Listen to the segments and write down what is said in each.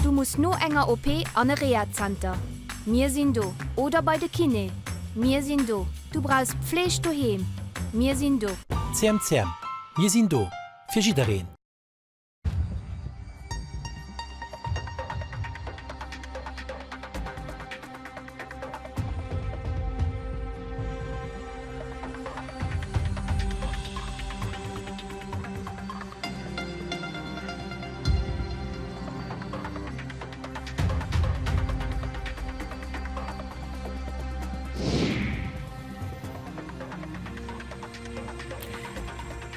Du muss no enger OP an e Rehazenter, mir sinn do. Oder bei de Kiné, mir sinn do. Du brauchs Pfleg doheem, mir sinn do. CMCM, mir sinn do fir jiddereen.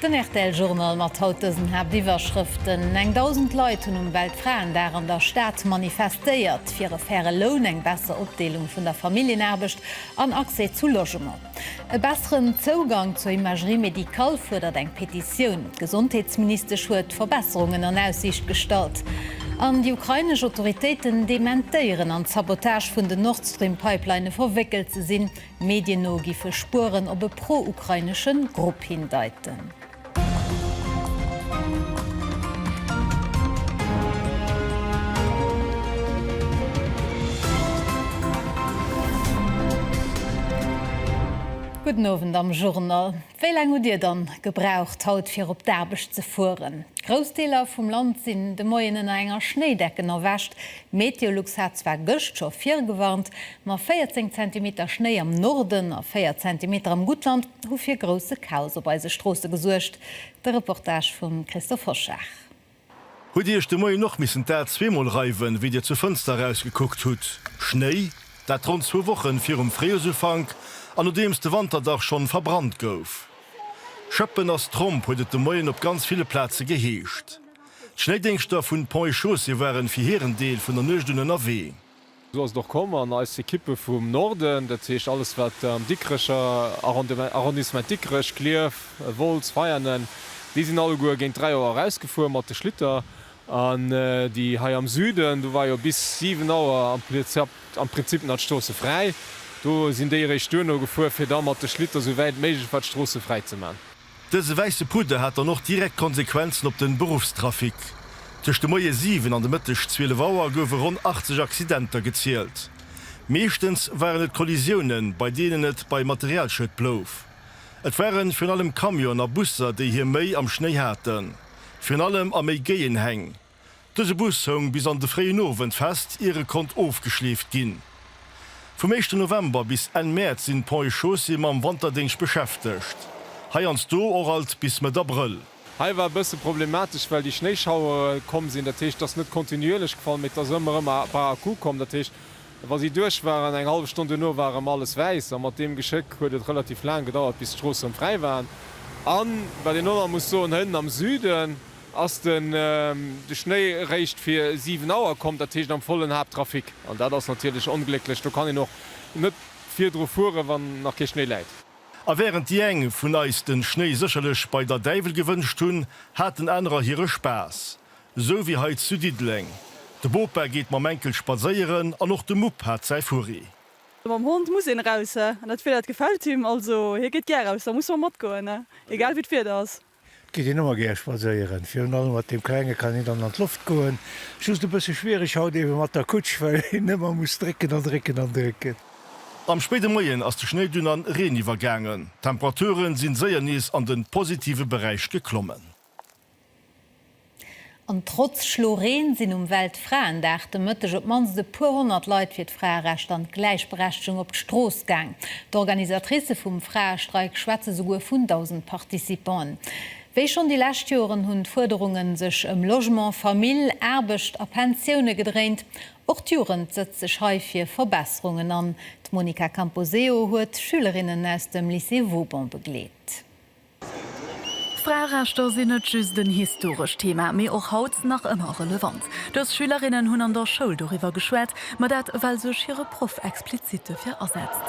Den rtl Journal mat haut dësen Haaptiwwerschrëften, Eng 1.000 Leit hunn um Weltfraendag an der Stad manifestéiert, fir e faire Loun, eng besser Opdeelung vun der Familljenaarbecht an Accès zu Logement. E besseren Zougang zur Imagerie médicale fuerdert eng Petitioun. D'Gesondheetsministesch huet Verbesserungen an Aussiicht gestallt. An déi ukrainesch Autoritéiten dementéieren an d'Sabotage vun den Nord Stream Pipeline verwéckelt ze sinn. Medien no giffe Spueren op e pro-ukrainesche Grupp hindeiten. Gudden Owend am Journal. Wéi laang hutt Dir dann gebraucht haut fir op d'Aarbecht ze fueren? Grouss Deeler vum Land sinn de Moien ënner enger Schnéidecken erwächt. Meteolux hat zwar gëscht scho virgewarnt, ma 14 Zentimeter Schnéi am Norden a 4 Zentimeter am Guttland hu fir grousse Chaos op eise Stroosse gesuergt. De Reportage vum Christophe Hoschag. Hutt Dir Iech de Moien och missen d'A zweemol reiwen, wéi Dir zur Fënster erausgekuckt hutt? Schnéi? Dat ronn zwou Wochen virum Fréijoersufank an nodeems de Wanterdach schonn verbrannt gouf. Schëppen ass Tromp! huet et de Moien op ganz ville Plaze geheescht. D'Schnéidéngschter vun Ponts et Chaussées waren fir hiren Deel vun der Nuecht un ënnerwee. Esou ass et och komm an eis Ekippe vum Norden, dat heescht alles wat am Dikrecher Arrondissement, Dikrech, Klierf, Wolz, Veianen, déi sinn alleguer géint 3 Auer erausgefuer mat de Schlitter an déi hei am Süden, do war jo bis 7 Auer am Prinzip nach d'Stroosse fräi, do sinn déi eréischt duerno gefuer fir da mat de Schlitter sou wäit méiglech war d'Stroosse fräi ze man. Dëse wäisse Pudder hat dann och direkt Konsequenzen op de Beruffstrafic. Tëscht de Moie 7 an de Mëtteg 12 Auer goufe ronn 80 Accidenter gezielt. Meeschtens waren et Kollisiounen, bei deenen et bei Materialschued blouf. Et ware virun allem Camionen a Busser, déi hir Méi am Schnéi haten, virun allem a méi géien Häng. Dëse Bus houng bis an de fréien Owend fest, ier e konnt ofgeschleeft ginn. Vum éischten November bis Enn Mäerz sinn d'Ponts et Chaussées mam Wanterdéngscht beschäftegt. Heiansdo och alt bis Mëtt Abrëll. Hei war e bësse problematesch, well déi Schnéischauere komm sinn. Dat heescht, et ass net kontinuierlech gefall, mee et ass ëmmer erëm e par à coup komm. Dat heescht, wa si duerch waren, eng hallef Stonn duerno war erëm alles wäiss. A mat deem Geschéck huet et relativ laang gedauert, bis d'Stroosse erëm fräi waren. A wat een och nach muss soen, Hënn am Süden, Ass den Schnéi réischt fir 7 Auer komm, dat heescht am vollen Haapttrafic, an dat ass natierlech onglécklech, do kann een och net virdru fueren, wann nach kee Schnéi läit. A wärend déi eng vun eis den Schnéi sécherlech bei der Däiwel gewënscht hunn, haten anerer hire Spaass. Esou wéi hei zu Diddeleng. De Bopa geet mam Enkel spadséieren an och de Mupp hat säi Furri. Mam Hond muss een eraus, an dat Wieder, dat gefält him, also hie geet gär eraus, da musse mer matgoen, egal wéi d'Wieder ass. Geet een ëmmer gär spadséieren. Virun allem mat deem Klenge kann een dann an d'Loft goen. Just e bësse schwiereg haut eebe mat der Kutsch, well een ëmmer muss drécken an drécken an drécken. Am spéide Moien ass de Schnéi dunn an Reen iwwergaangen. D'Temperature sinn séier nees an de positive Beräich geklommen. An trotz Schlo Reen sinn um Weltfraendag de Mëtteg op d'mannst e puer honnert Leit fir d'Fraerecht an d'Gläichberechtegung op d'Strooss gaang. D'Organisatricë vum Fraestreik schwätze souguer vun 1.000 Participanten. Wéi schonn déi lescht Joren hunn d'Fuerderunge sech ëm Logement, Famill, Aarbecht a Pensioune gedréint. Och d'Jugend sëtzt sech hei fir Verbesserungen an. D'Monica Camposeo huet Schülerinnen aus dem Lycée Vauban begleet. D'Fraerechter sinn net just en historescht Thema, mee och haut nach ëmmer relevant. Dës Schülerinnen hunn an der Schoul doriwwer geschwat, ma dat well sech hire Proff explizit dofir asetzt.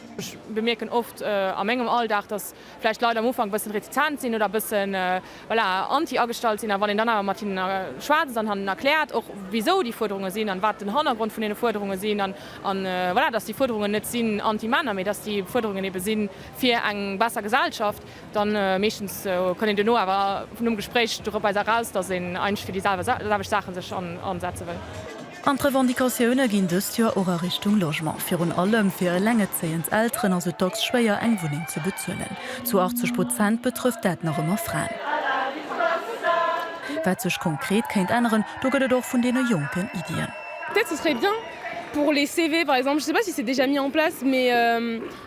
Ech bemierken oft a mengem Alldag, dass vläicht d'Leit am Ufank e bëssen retizent sinn oder e bëssen, voilà, anti agestallt sinn. A wann een dann awer mat hinnen schwätzt an hannen erkläert och, wisou déi Fuerderunge sinn an wat den Hannergrond vun deene Fuerderunge sinn, an voilà, dass déi Fuerderungen net sinn anti-Männer, mee dass déi Fuerderungen eebe sinn fir eng besser Gesellschaft, Dann meeschtens konnt een duerno awer vun um Gespréich doropweiser eraus, dass een eigentlech fir déi selwecht Saachen sech ansetze wëll. An d'Revendicatioune ginn dëst Joer och a Richtung Logement. Virun allem fir elengerzéiend Elteren ass et dacks schwéier, eng Wunneng ze bezuelen. Zu 80 Prozent betrëfft dat nach ëmmer Fraen. Wat sech konkret kéint änneren, do gëtt et och vun deene Jonken Iddien.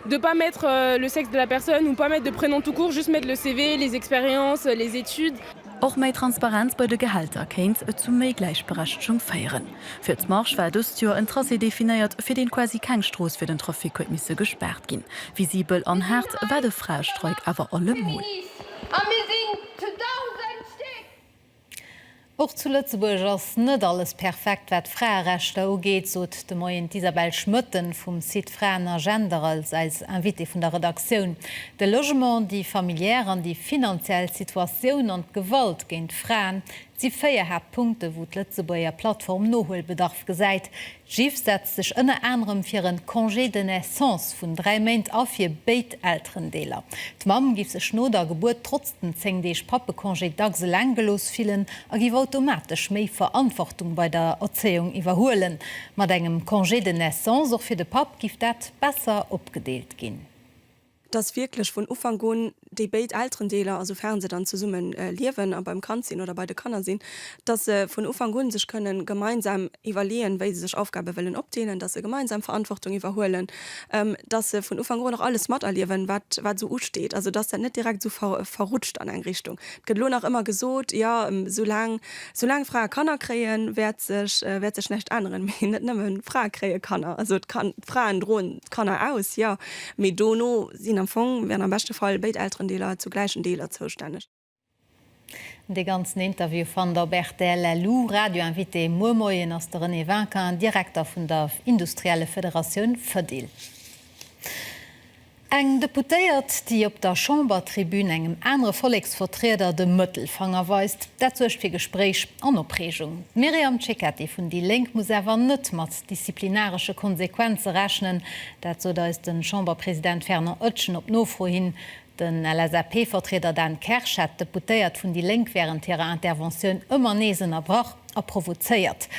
de pas mettre le sexe de la personne ou pas mettre de prénom tout court, just mettre le CV, les expériences, les études. Och méi Transparenz bei de Gehälter kéint zu méi Gläichberechtegung féieren. Fir d'Marche war dëst Joer en Tracé definéiert, fir deen quasi keng Strooss fir den Trafic huet misse gespaart ginn. Visibel an haart war de Fraestreik awer allemol. Och zu Lëtzebuerg ass net alles perfekt, wat d'Fraerechter ugeet, sot de Moien d'Isabelle Schmoetten vum Site Fraen a Gender als eis Invitée vun der Redaktioun. De Logement, déi familiär an déi finanziell Situatioun an d'Gewalt géint Fraen si véier Haaptpunkte, wou d'Lëtzebuerger Plattform Nohuelbedarf gesäit, D'GIF setzt sech ënner anerem fir en Congé de naissance vun dräi Méint a fir béid Elterendeeler. D'Mamm giff sech no der Gebuert trotz den zéng Deeg Pappecongé dacks eleng gelooss fillen a giff automatesch méi Verantwortung bei der Erzéiung iwwerhuelen. Mat engem Congé de naissance och fir de Papp giff dat besser opgedeelt ginn. dass wierklech vun Ufank un déi béid Elterendeeler, also fern se dann zesumme liewen a beim Kand sinn oder bei de Kanner sinn, dass se vun Ufank un sech kënnen gemeinsam iwwerleeën, wéi se sech Aufgabe wëllen opdeelen, dass se gemeinsam Verantwortung iwwerhuelen, dass se vun Ufank un och alles materliewen, wat esou usteet, also dass dat net direkt esou verrutscht an eng Richtung. Et gëtt elo nach ëmmer gesot, Jo, soulaang, soulaang Frae Kanner kréien, wäert sech, wäert sech näischt änneren. Mee net nëmme Frae kréie Kanner, also d'Fraen droen d'Kanner aus, jo, Mee dono sinn am Fong, wären am beschte Fall, béid Elterendeeler zu gläichen Deeler zoustänneg. De ganzen Interview fannt der op rtl. Lu Radio Invité muer Moien ass de René Vinquin, Direkter vun der Industriellefederatioun FEDIL. Eng Deputéiert, déi op der Chambertribün engem anere Volleksvertrieder de Mëttelfanger weist, dat suergt fir Gespréich an Opreegung. D'Myriam Cecchetti vun déi Lénk muss awer net mat disziplinaresche Konsequenze rechnen, Dat sot eis de Chamberpresident Fernand Oetjen op Nofro hin. Den LSAP-Vertrieder Dan Kersch hat d'Deputéiert vun déi Lénk wärend hirer Interventioun ëmmer nees ënnerbrach a provozéiert.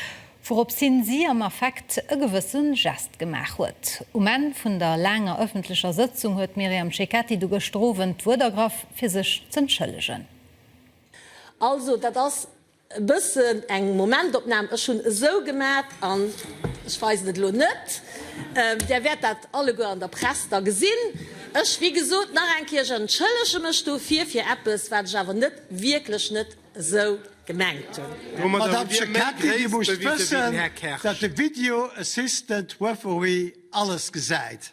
Wouropps hin si am Affekt e gewësse Gest gemaach huet. Um Enn vun der laanger ëffentlecher Sëtzung huet d'Myriam Cecchetti du gëschter Owend d'Wuert ergraff fir sech z'entschëllegen. Also dat ass E bëssen eng Momentopnahm, ech hunn esou gemat an ech weisen et elo net. Där wäert dat alleguer an der Press da gesinn. Ech, wéi gesot, nach eng Kéier, ech entschëllege mech dofir, fir eppes, wat ech awer net, wierklech net esou gemengt hunn. Domadder hutt Dir méi Gréisst bewise wéi den Här Kersch. Domadder hutt Dir méi Gréisst bewise wéi den Här Kersch. Madame Cecchetti, Dir musst wëssen, datt de Video Assistant Referee alles gesäit.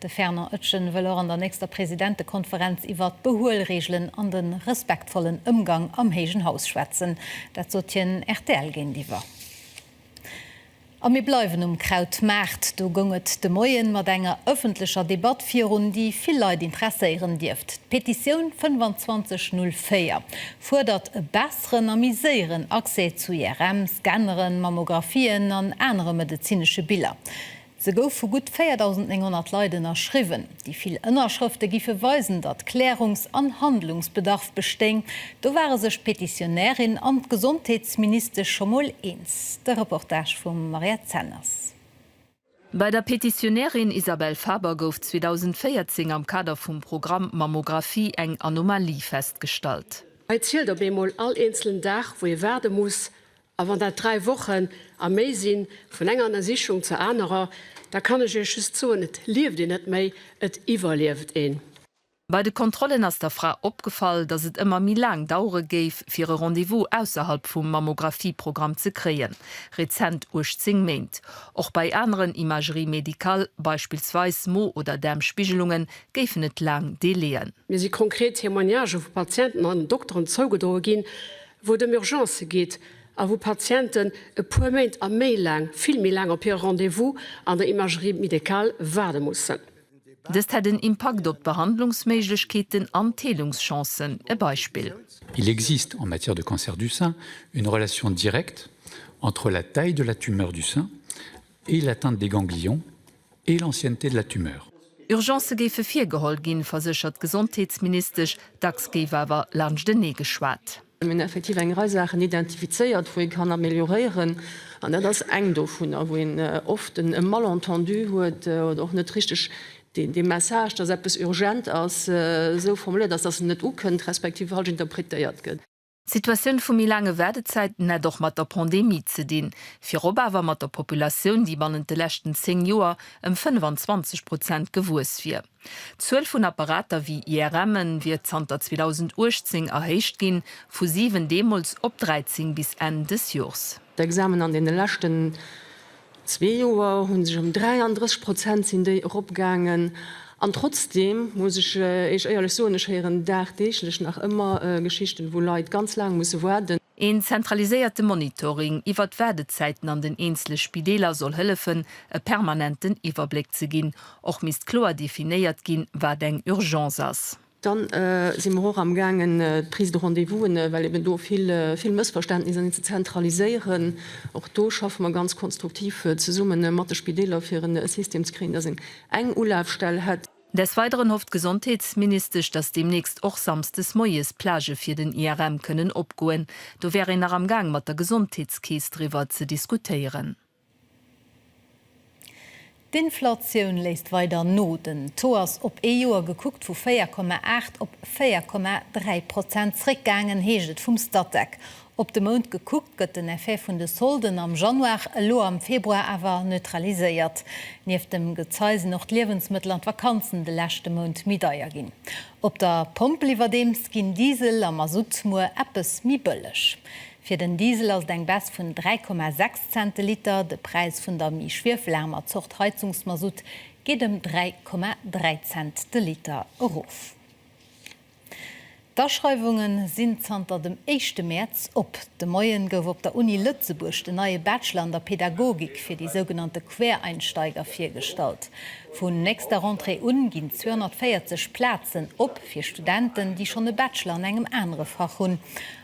De Fernand Oetjen wëll och an der nächster Presidentekonferenz iwwert d'Behuelreegelen an de respektvollen Ëmgang am héijen Haus schwätzen. Dat sot hien rtl géintiwwer. A mir bleiwen um Krautmaart. Do goung et de Moien mat enger ëffentlecher Debatt virun, déi vill Leit interesséieren dierft. D'Petitioun 25 04 fuerdert e besseren a méi séieren Accès zu IRM, Scanneren, Mammographien an anere medezinesche Biller. Se gouf vu gutt 4.900 Leit ënnerschriwwen. Déi vill Ënnerschrëfte giffe weisen, datt Klärungs an Handlungsbedarf bestéing. Do ware sech d'Petitionärin an d'Gesondheetsministesch scho mol eens. De Reportage vum Mariette Zenners. Bei der Petitionärin Isabelle Faber gouf 2014 am Kader vum Programm Mammographie eng Anomalie festgestallt. Hei zielt op eemol all eenzelen Dag, wou ee waarde muss, A wann dat dräi Wochen a méi sinn, vun enger Ënnersichung zur anerer, da kann ech Iech just soen, et lieft een net méi, et iwwerlieft een. Bei de Kontrollen ass der Fra opgefall, datt et ëmmer méi laang dauere géif, fir e Rendez-vous ausserhalb vum Mammografieprogramm ze kréien, rezent 18 Méint. Och bei aneren Imageries médicales, beispillsweis Mo oder Daarmspigelungen, géifen et laang Délai'en. Mir si konkret Témoignagë vu Patienten an Dokteren zougedroe ginn, wou et ëm Urgencë geet a wou Patienten e puer Méint a méi laang, vill méi laang, op hire Rendez-vous an der Imagerie médicale waarde mussen. Dëst hätt en Impakt op d'Behandlungsméiglechkeeten an d'Heelungschancen. E Beispill. Il existe, en matière de cancer du sein, une relation directe entre la taille de la tumeur du sein et l'atteinte des ganglions et l'ancienneté de la tumeur. Urgencë géife virgeholl ginn, verséchert d'Gesondheetsministesch. Dacks géif awer laanschtenee geschwat. Mir hunn effektiv eng Rei Saachen identifizéiert, wou ee kann amelioréieren. An dat ass eng dovunner, wou een oft e Malentendu huet oder och net richteg dee Message, datt eppes urgent ass, esou formuléiert ass, datt en net ukënnt, respektiv falsch interpretéiert gëtt. D'Situatioun vu méi laange Waardezäiten hätt och mat der Pandemie ze dinn, virop awer mat der Populatioun, déi bannent de leschten 10 Joer ëm 25 Prozent gewuess wier. D'Zuel vun Apparater wéi IRMen wier zanter 2018 erhéicht ginn, vu 7 deemools op 13 bis Enn des Joers. D'Examen an deene leschten Zwee Joer hu sech ëm 33 Prozent sinn déi eropgaangen. An trotzdeem muss ech Iech éierlech soen, ech héieren dagdeeglech nach ëmmer Geschichten, wou Leit ganz laang musse waarden. Een zentraliséierte Monitoring iwwert d'Waardezäiten an den eenzele Spideeler soll hëllefen, e permanenten Iwwerbléck ze ginn. Och misst kloer definéiert ginn, wat eng Urgence ass. Dann si mer och am gaangen d'Prise de rendez-vous'en, well eben do vill, vill Mëssverständnisser sinn, ze zentraliséieren. Och do schaffe mer ganz konstruktiv zesumme mat de Spideeler, fir e System ze kréien, dass een eng Ulafstell hätt. Des Weideren hofft d'Gesondheetsministesch, dass deemnächst och samsdes moies d'Plagë fir den IRM kënnen opgoen. Do wär een nach am gaang mat der Gesondheetskeess driwwer ze diskutéieren. D'Inflatioun léisst weider no. Den Taux ass op ee Joer gekuckt vu 4,8 op 4,3 Prozent zréckgaangen, heescht et vum Statec. Op de Mount gekuckt gëtt den Effet vun de Solden am Januar elo am Februar awer neutraliséiert. Nieft dem Gezei sinn och d'Liewensmëttel an d'Vakanzen de leschte Mount méi deier ginn. Op der Pompel iwwerdeems ginn Diesel a Masutt muer eppes méi bëlleg. Fir den Diesel ass et eng Baisse vun 3,6 Cent de Liter. De Präis vun der méi schwiefelaarmer Zort Heizungsmasutt geet ëm 3,3 Cent de Liter erof. D'Aschreiwunge sinn zanter dem éischte Mäerz op. De Moien gouf op der Uni Lëtzebuerg den neie Bachelor an der Pedagogik fir déi sougenannte Quereinsteiger virgestallt. Vun nächster Rentrée un ginn 240 Plazen op fir Studenten, déi schonn e Bachelor an engem anere Fach hunn.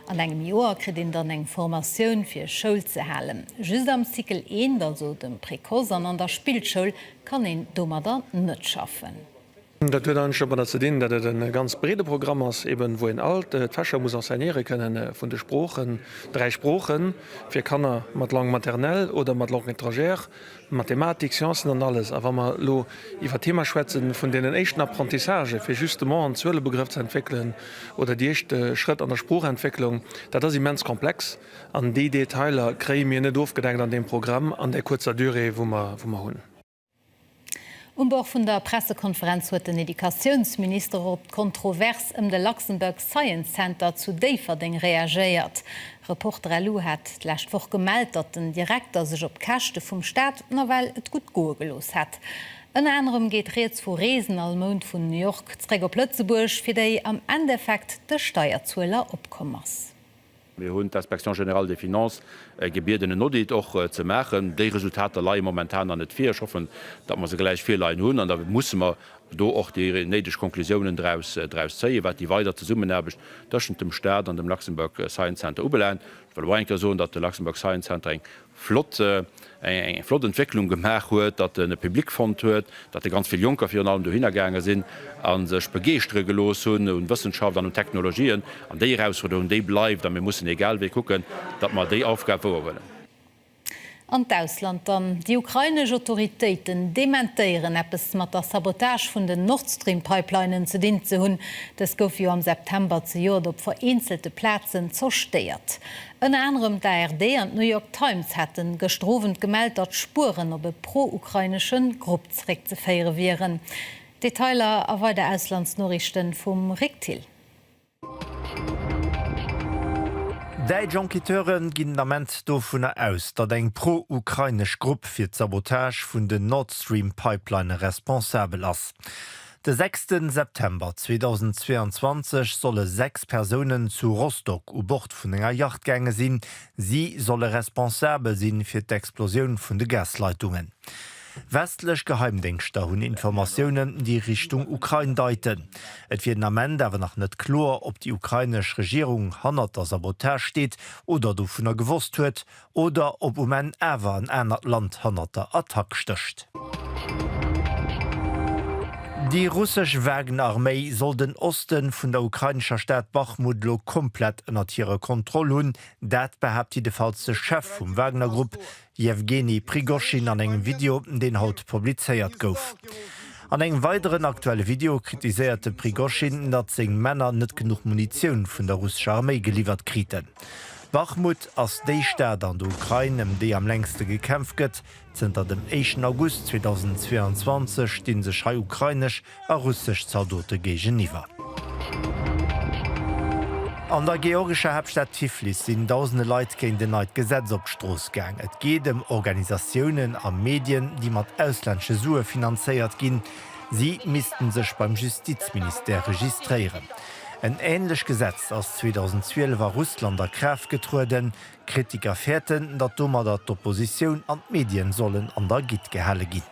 An engem Joer kritt een dann eng Formatioun fir Schoul ze halen. Just am Cycle eent, also dem Précoce an an der Spillschoul kann een domadder net schaffen. Dat huet eigentlech domadder ze dinn, datt et e ganz breede Programm ass, eben wou een all d'Fächer muss enseignéiere kënnen, vun de Sproochen, dräi Sproochen fir Kanner mat Langue maternelle oder mat Langue étrangère, Mathematik, Sciencen an alles. A wa mer elo iwwert d'Thema schwätze vun deenen éischten Apprentissagë fir justement en Zuelebegrëff ze entwéckelen oder déi éischt Schrëtt an der Sproochentwécklung, dat ass immens komplex an déi Detailer kréie mir net ofgedeckt an deem Programm an där kuerzer Durée wou mer hunn. Um Bord vun der Pressekonferenz huet den Educatiounsminister och op d'Kontrovers ëm de Luxembourg Science Center zu Déifferdeng reagéiert. Reporter LU hat d'lescht Woch gemellt, datt den Direkter sech op Käschte vum Staat nawell et gutt goe gelooss hätt. Ënner anerem geet Rieds vu Reesen all Mount vun New York zeréck op Lëtzebuerg, fir déi am Endeffekt de Steierzueler opkomm ass. Mir hunn d'Inspection générale des finances gebieden, en Audit och ze maachen. Déi Resultater leie momentan nach net vir. Ech hoffen, datt mer se gläich virleien hunn. An da musse mer do och déi néideg Konklusiounen draus zéien, wat déi weider Zesummenaarbecht tëschent dem Stat an dem Luxembourg Science Center ubelaangt. Ech wëll och eng Kéier soen, datt de Luxembourg Science Center eng flott, eng flott Entwécklung gemaach huet, datt en e Public fonnt huet, datt e ganz vill Jonker virun allem dohinner gaange sinn a sech begeeschtere gelooss hunn un Wëssenschaft an un Technologien. An déi Erausfuerderung, déi bleift a mir mussen egal wéi kucken, datt mer déi Aufgab wouer huelen. An d'Ausland dann, Déi ukrainesch Autoritéiten dementéieren, eppes mat der Sabotage vun den Nordstream-Pipelinen ze dinn ze hunn. Dës goufe jo am September zejoert op vereenzelte Plazen zerstéiert. Ënner anerem d'ARD an d'New York Times hate gëschter Owend gemellt, datt Spueren op e pro-ukrainesche Grupp zeréckzeféiere wieren. Detailer a weider Auslandsnoriichte vum Rick Thill. Däitsch Enquêteure ginn den Ament dovunner aus, datt eng pro-ukrainesch Grupp fir d'Sabotage vun den Nord Stream Pipelinne responsabel ass. De sechste September 2022 solle sechs Persounen zu Rostock u Bord vun enger Yacht gaange sinn. Si solle responsabel si fir d'Explosioun vun de Gasleitungen. Westlech Geheimdéngschter hunn Informatiounen, déi Richtung Ukrain deiten. Et wier den Ament awer nach net kloer, ob déi ukrainesch Regierung hannert der Sabotage steet oder dovunner gewosst huet, Oder op um Enn awer en anert Land hannert der Attack stécht. Déi russesch Wagner-Arméi soll den Oste vun der ukrainescher Stad Bachmut elo komplett ënnert hirer Kontroll hunn. Dat behaapt jiddefalls de Chef vum Wagner-Grupp, Jewgeni Prigoschin an engem Video, deen haut publizéiert gouf. An engem weideren aktuelle Video kritiséiert de Prigoschin, datt seng Männer net genuch Munitioun vun der russescher Arméi geliwwert kriten. Bachmut ass déi Stad an der Ukrain, ëm déi am längste gekämpft gëtt. Zënter dem éischten August 2022 sti sech hei ukrainesch a russesch Zaldote géigeniwwer. An der georgescher Haaptstad Tiflis sinn dausende Leit géint en neit Gesetz op d'Strooss gaang. Et geet ëm Organisatiounen a Medien, déi mat auslännesche Sue finanzéiert ginn. Si misste sech beim Justizministère registréieren. En änlech Gesetz ass 2012 a Russland a Kraaft getrueden. Kritiker fäerten, datt domadder d'Oppositioun an d'Medien sollen an der Gitt gehale ginn.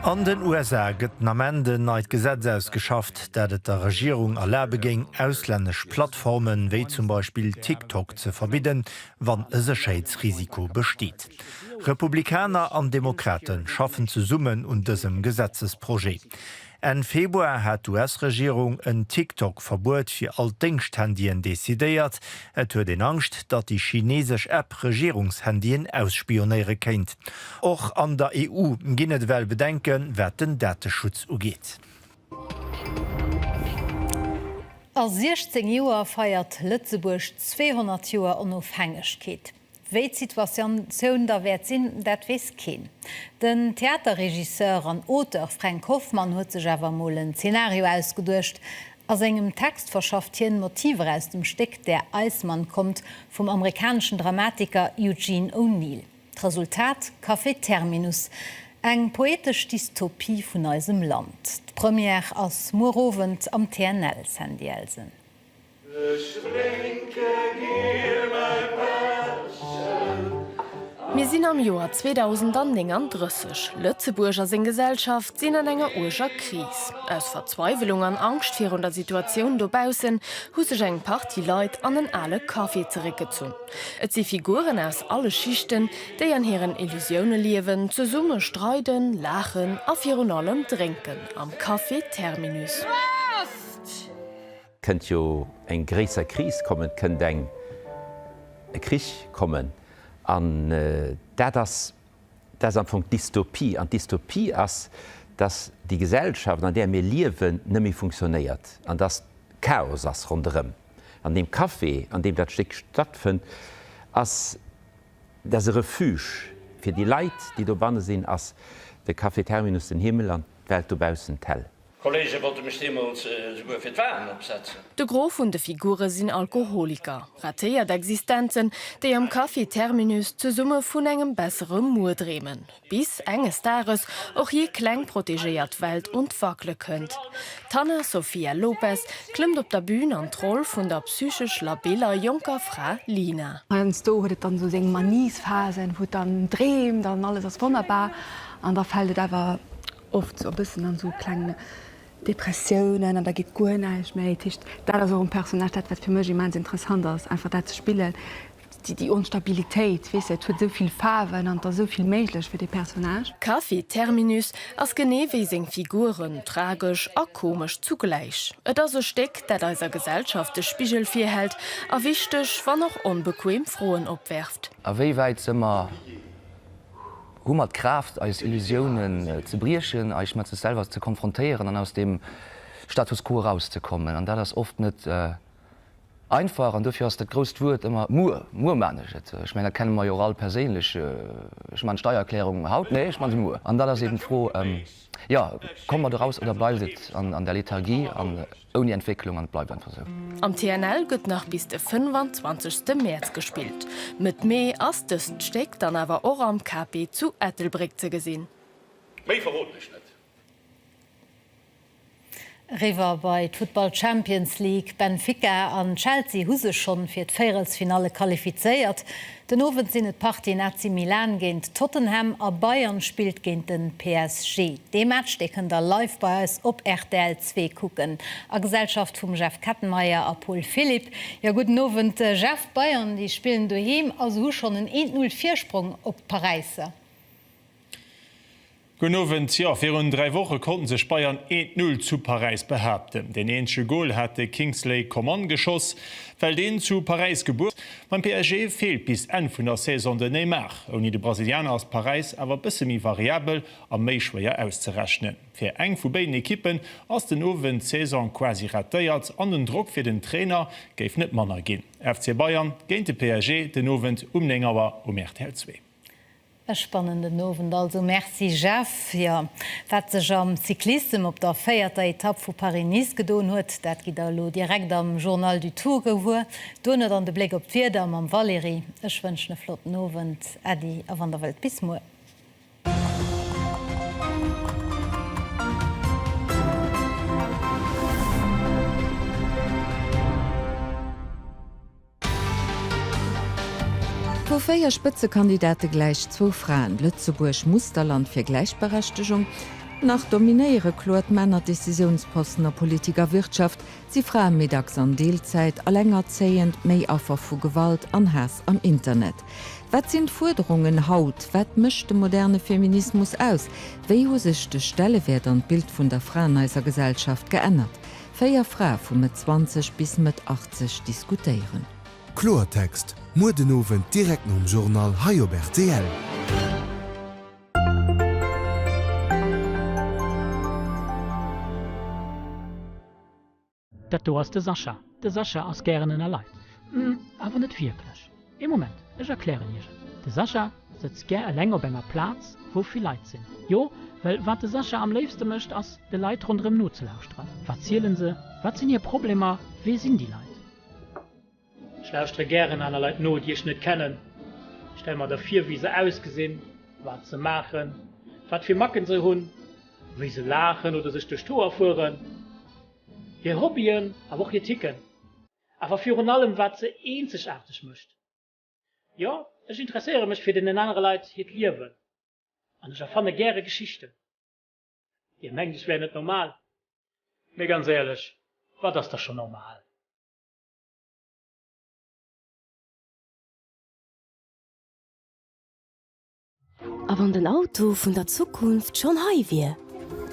An den USA gëtt den Ament en neit Gesetz ausgeschafft, dat et der Regierung erlabe géing, auslännesch Plattformen, wéi zum Beispill TikTok, ze verbidden, wann e Sécherheetsrisiko besteet. Republikaner an Demokrate schaffen zesummen un dësem Gesetzesprojet. Enn Februar hat d'US-Regierung en TikTok-Verbuet fir all d'Déngschthandyen decidéiert. Et huet een Angscht, datt déi chineesesch App Regierungshandyen ausspionéiere kéint. Och an der EU ginn et ewell Bedenke wat den Dateschutz ugeet. A 16 Joer feiert Lëtzebuerg 200 Joer Onofhängegkeet. Wéi d'Situatioun da wäert sinn, dat weess keen. Den Theaterregisseur an Auteur Fränk Hoffmann huet sech awer emol en Zenario ausgeduecht. A sengem Text verschafft hien Motiver aus dem Stéck Der Eismann kommt vum amerikaneschen Dramatiker Eugene O'Neill. D'Resultat, Café Terminus, eng poetesch Dystopie vun eisem Land. D'Première ass muer Owend am TNL, Sandy Elsen. Mir sinn am Joer 2039. Lëtzebuerg a seng Gesellschaft sinn an enger uerger Kris. Aus Verzweiwelung an Angscht virun der Situatioun dobaussen hu sech eng Partie Leit an en ale Café zeréckgezunn. Et si Figuren aus alle Schichten, déi an hiren Illusioune liewen, zesumme streiden, laachen a virun allem drénken am Café Terminus. Prost! Kënnt jo eng gréisser Kris kommen, et kënnt eng e Krich kommen. An dat ass dat ass am Fong d'Dystopie. An d'Dystopie ass, datt déi Gesellschaft, an där mir liewen, net méi funktionéiert an datt Chaos ass ronderëm. An deem Café, an deem dat Stéck stattfënnt, ass dat ass e Refuge fir déi Leit, déi dobanne sinn, ass de Café Terminus den Himmel an d'Welt dobaussen d'Häll. D'Kolleege wollte mech deemools esouguer fir d'Walen opsetzen. De Gros vun de Figure sinn Alkoholiker, ratéiert Existenzen, déi am Café Terminus zesumme vun engem bessere Muer dreemen, bis enges Dages och hir kleng protegéiert Welt un d'Wackele kënnt. D'Hanna Sofia Lopes klëmmt op der Bün an d'Roll vun der psychesch labiller jonker Fra Lina. Heiansdo huet et dann esou seng Maniesphasen, wou et dann dreemt an alles ass wonnerbar, an da fält et awer oft sou e bëssen an sou kleng Depressiounen an da geet guer näischt méi, dat heescht dat ass och um Personnage dat wat fir mech immens interessant ass einfach dat ze spillen, déi déi Onstabilitéit weess de, et huet sou vill Faarwen an et ass sou vill méiglech fir dee Personnage. Café Terminus ass genee wéi seng Figuren tragesch a komesch zugläich. Et ass e Stéck dat eiser Gesellschaft de Spigel virhält a wichteg, wann och onbequem Froen opwerft. Awéiwäit se mer? Hu mer d'Kraaft, eis Illusiounen ze briechen, eis mat sech selwer ze konfrontéieren an aus dem Status quo erauszekommen? An dat ass oft net einfach. An duerfir ass dat grousst Wuert ëmmer muer. Muer man ech et. Ech mengen, dat kenne mer jo och all perséinlech. Ech man d'Steiererklärung haut, nee, ech man se muer. An dann ass eben d'Fro, jo, komme mer do raus oder bleift et an der Lethargie? Ouni Entwécklung an et bleift einfach sou. Am TNL gëtt nach bis de 25 ste Mäerz gespillt. Mëtt Mee ass dëst Stéck dann awer och am KP zu Ettelbréck ze gesinn. Méi verroden ech net. Eriwwer bei d'Futtball Champions League, Benfica an Chelsea hu sech schonn fir d'Véierelsfinalle qualifizéiert. Den Owend sinn et d'Partien AC Milan géint Tottenham a Bayern spillt géint de PSG. Dee Match, dee kënnt der live bei eis op rtl zwee kucken a Gesellschaft vum Jeff Kettenmeyer a Paul Philipp. Jo, gudden Owend Jeff, d'Bayern déi spillen doheem a se hu schonn en een Null Virsprong op d'Paräisser. Gudden Owend, jo virun 3 Woche konnten sech Bayern 1 Null zu Paräis behaapten. Deen eenzege Goal hat de Kingsley Coman geschoss, well deen zu Paräis gebuer. Beim PSG feelt bis Enn vun der Saison de Neymar. Ouni de Brasilianer ass Paräis awer bësse méi variabel a méi schwéier auszerechnen. Fir eng vu béiden Ekippen ass den Owend d'Saison quasi ratéiert an den Drock fir den Trainer géif net manner ginn. FC Bayern géint de PSG den Owend um 9 Auer um rtl zwee. E spannenden Owend also. Merci Jeff. Jo, wat sech am Cyclissem op der véierter Etapp vu Paris-Nice gedoen huet, dat gitt der elo direkt am Journal du Tour gewuer. Duerno dann de Bléck op d'Wieder mam Valérie. Ech wënschen e flotten Owend, äddi a wann der wëllt bis muer. Vu véier Spëtzekandidate gläich zwou Fraen, Lëtzebuerg, Musterland fir Gläichberechtegung? Nach dominéiere kloer d'Männer Decisiounsposten a Politik a Wirtschaft, si Frae méi dacks an Deelzäit, alengerzéiend, méi Affer vu Gewalt an Haass am Internet. Wat sinn d'Fuerderungen haut? Wat mécht de moderne Feminismus aus? Wéi hu sech de Stellewäert an d'Bild vun der Fra an eiser Gesellschaft geännert? Véier Frae vu Mëtt 20 bis Mëtt 80 diskutéieren. Kloertext, muer den Owend direkt nom Journal hei op rtl. Dat do ass de Sascha. De Sascha ass gären ënner Leit, awer net wierklech. Ee Moment, ech erklären Iech et. De Sascha sëtzt gär eleng op enger Plaz, wou vill Leit sinn. Jo, well wat de Sascha am léifste mécht, ass, de Leit ronderëm nozelauschteren. Wat zielen se? Wat sinn hir Problemer? Wee sinn déi Leit? Ech lauschtere gären aner Leit no, déi ech net kennen. Ech stelle mer da vir, wéi se ausgesinn, wat se maachen, wat fir Macken se hunn, wéi se laachen oder sech duerch d'Hoer fueren, hir Hobbyen, awer och hir Ticken. Awer virun allem wat se eenzegaarteg mécht. Jo, ech interesséiere mech fir deenen anere Leit hiert Liewen an ech erfanne gäre Geschichten. Dir mengt ech wär net normal, mee ganz éierlech, wat ass da scho normal? A wann den Auto vun der Zukunft schonn hei wier?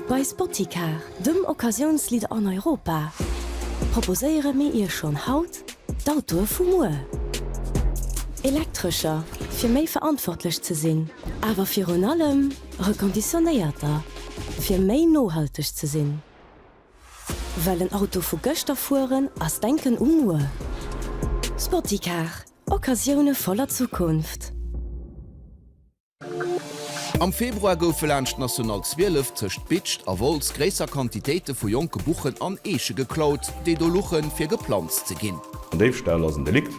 Bei Spoticar, dem Occasiounsleader an Europa, proposéiere mir Iech schonn haut d'Autoe vu muer. Elektrescher, fir méi verantwortlech ze sinn, awer virun allem reconditionéierter, fir méi nohalteg ze sinn. Well en Auto vu gëschter fueren ass denken u muer. Spoticar, Occasioune voller Zukunft. Am Februar goufe laanscht d'National 12 tëscht Bitscht a Wolz gréisser Quantitéite vu jonke Buchen an Eeche geklaut, déi do luchen, fir geplanzt ze ginn. En Déifstall ass en Delikt,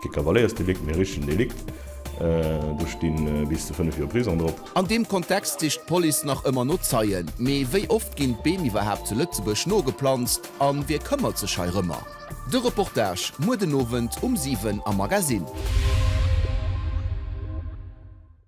kee Kavaléiersdelikt, mee e richtegen Delikt. Do stinn bis zu 5 Joer Prison drop. An deem Kontext sicht d'Police nach ëmmer no Zeien. Mee wéi oft ginn d'Beem iwwerhaapt zu Lëtzebuerg nogeplanzt an wie këmmert sech heirëmmer? De Reportage muer den Owend um 7 am Magazine.